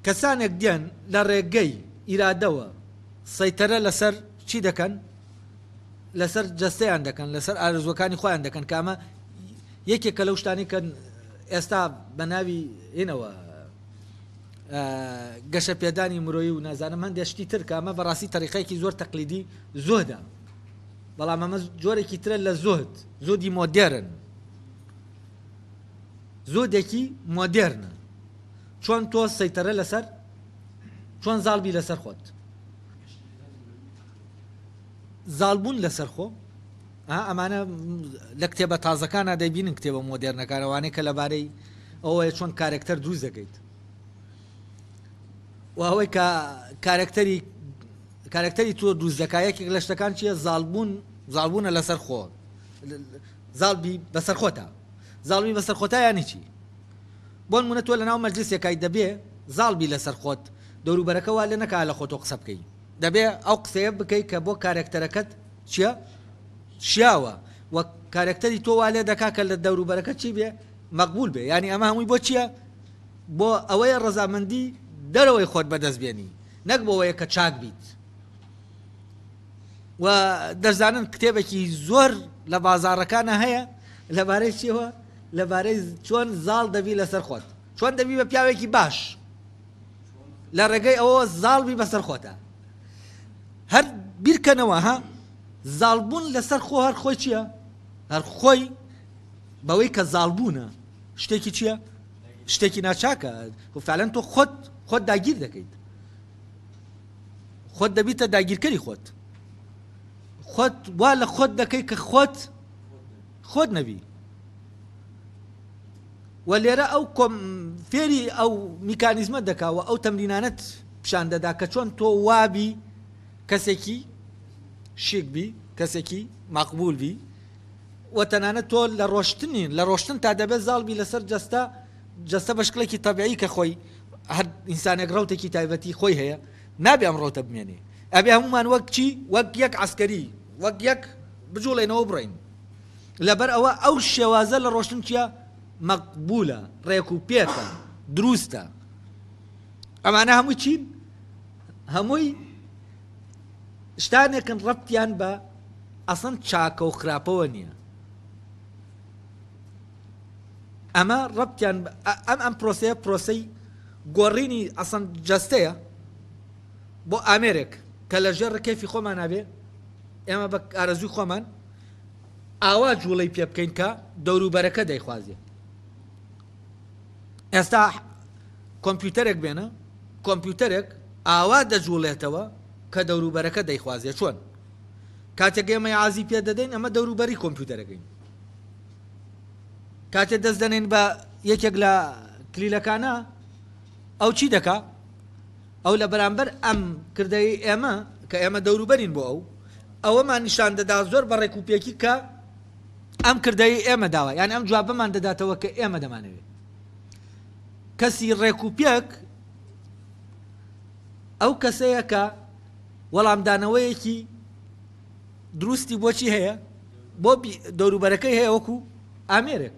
کەسانێک دێن لە ڕێگەی ئیرادەوە سەیتەرە لەسەر چی دەکەن؟ لەسەر جەستەیان دەکەن لەسەر ئارزوەکانی خۆیان دەکەن کە ئەمە یەکێکە لەو شتانی کە ئێستا بە ناوی هینەوە گەشە پێدانی مرۆیی و نازانم هەندێک شتی تر کە ئەمە بەڕاستی تەریقەیەکی زۆر تەقلیدی زۆدا بەڵام ئەمە جۆرێکی ترە لە زۆت زۆدی مۆدێرن زۆدێکی مۆدێرنە چۆن تۆ سەیتەرە لەسەر چۆن زاڵ بی لەسەر خۆت زاڵ بوون لەسەر خۆ ها ئەمانە لە کتێبە تازەکانە دەیبینن کتێبە مۆدێرنەکانەوانەی کە لەبارەی ئەوەیە چۆن کارێکتەر دروست دەکەیت و ئەوەی کە کارێکتەری کارێکتەری تۆ دروست دەکا یەکێک لە شتەکان چییە زاڵبوون زاڵبوونە لەسەر خۆ زاڵبی بەسەرخۆتا زاڵبی بەسەرخۆتا یانی چی بۆنمونە تۆ لەناو مەجلیسێکای دەبێ زاڵبی لەسەرخۆت دەوروبەرەکە وا لێنەکا لەخۆتۆ قسە بکەی دەبێ ئەو قسەیە بکەی کە بۆ کارێکتەرەکەت چیە شیاوە وە کارێکتەری تۆ وا لێدەکا کە لە دەوروبەرەکە چی بێ مەقبول بێ یانی ئەمە هەمووی بۆ چیە بۆ ئەوەیە ڕەزامەندی دەرەوەی خۆت بەدەست بێنی نەک بۆ وەیە کە چاک بیت. و دەزانن کتێبێکی زۆر لە بازارەکانە هەیە لەبارەی چیەوە لەبارەی چۆن زاڵ دەبی لەسەر خۆت چۆن دەبی بە پیاوێکی باش لە ڕێگەی ئەوە زاڵبی بەسەر خۆتە هەر بیرکەنەوە ها زاڵبوون لەسەر خۆ هەر خۆی چییە هەر خۆی بەوەی کە زاڵبوونە شتێکی چییە شتێکی ناچاکە وفعلەن تۆ خۆت خۆت داگیر دەکەیت خۆت دەبیتە داگیرکەری خۆت خۆت وا لە خۆت دەکەی کە خۆت خۆت نەبی و لێرە ئەو فێری ئەو میکانیزمە دەکاوە ئەو تەمرینانەت پیشان دەدا کە چۆن تۆ وابی کەسێکی شیک بی کەسێکی مەقبول بی و تەنانەت تۆ لە ڕۆشتنین لە ڕۆشتن تا دەبێت زاڵبی لەسەر جەستە جەستە بەشکڵێکی تەبیعی کە خۆی هەر ئینسانێک ڕوتێکی تایبەتی خۆی هەیە نابێ ئەم ڕوتە بمێنێ ئەبێ هەمومان وەک چی وەک یەک عسکەری وەک یەک بجوڵێنەوە بڕین لەبەر ئەوە ئەو شێوازە لە ڕۆشتن چیە مەقبولە ڕێک و پێکە دروستە ئەمانە هەموو چین هەمووی شتانێکن ڕەتیان بە ئەسن چاکە و خراپەوە نییە ئەمە ڕەبتیان ئەم ئەم پرۆسەیە پرۆسەی گۆڕینی ئەسەن جەستەیە بۆ ئامێرێک کە لە ژێر ڕکێفی خۆمان نابێ ئێمە بە ئارەزوی خۆمان ئاوا جوڵەی پێ بکەین کە دەوروبەرەکە دەیخوازێ ئێستا کۆمپیوتەرێک بێنە کۆمپیوتەرێک ئاوا دەجوڵێتەوە کە دەوروبەرەکە دەیخوازێ چۆن کاتێک ئێمە عازی پێ دەدەین ئەمە دەوروبەری کۆمپیوتەرەکەین کاتێ دەست دەنێن بە یەکێک لە کلیلەکانە ئەو چی دەکا ئەو لە بەرامبەر ئەم کردەی ئێمە کە ئێمە دەوروبەرین بۆ ئەو ئەوەمان نیشان دەدا زۆر بە ڕێک و پێکی کە ئەم کردەی ئێمە داوە یان ئەم جوابەمان دەداتەوە کە ئێمە دەمانەوێت کەسی ڕێک و پێک ئەو کەسەیە کە وەڵامدانەوەیەکی دروستی بۆچی هەیە بۆ دەوروبەرەکەی هەیە وەکو ئامێرێک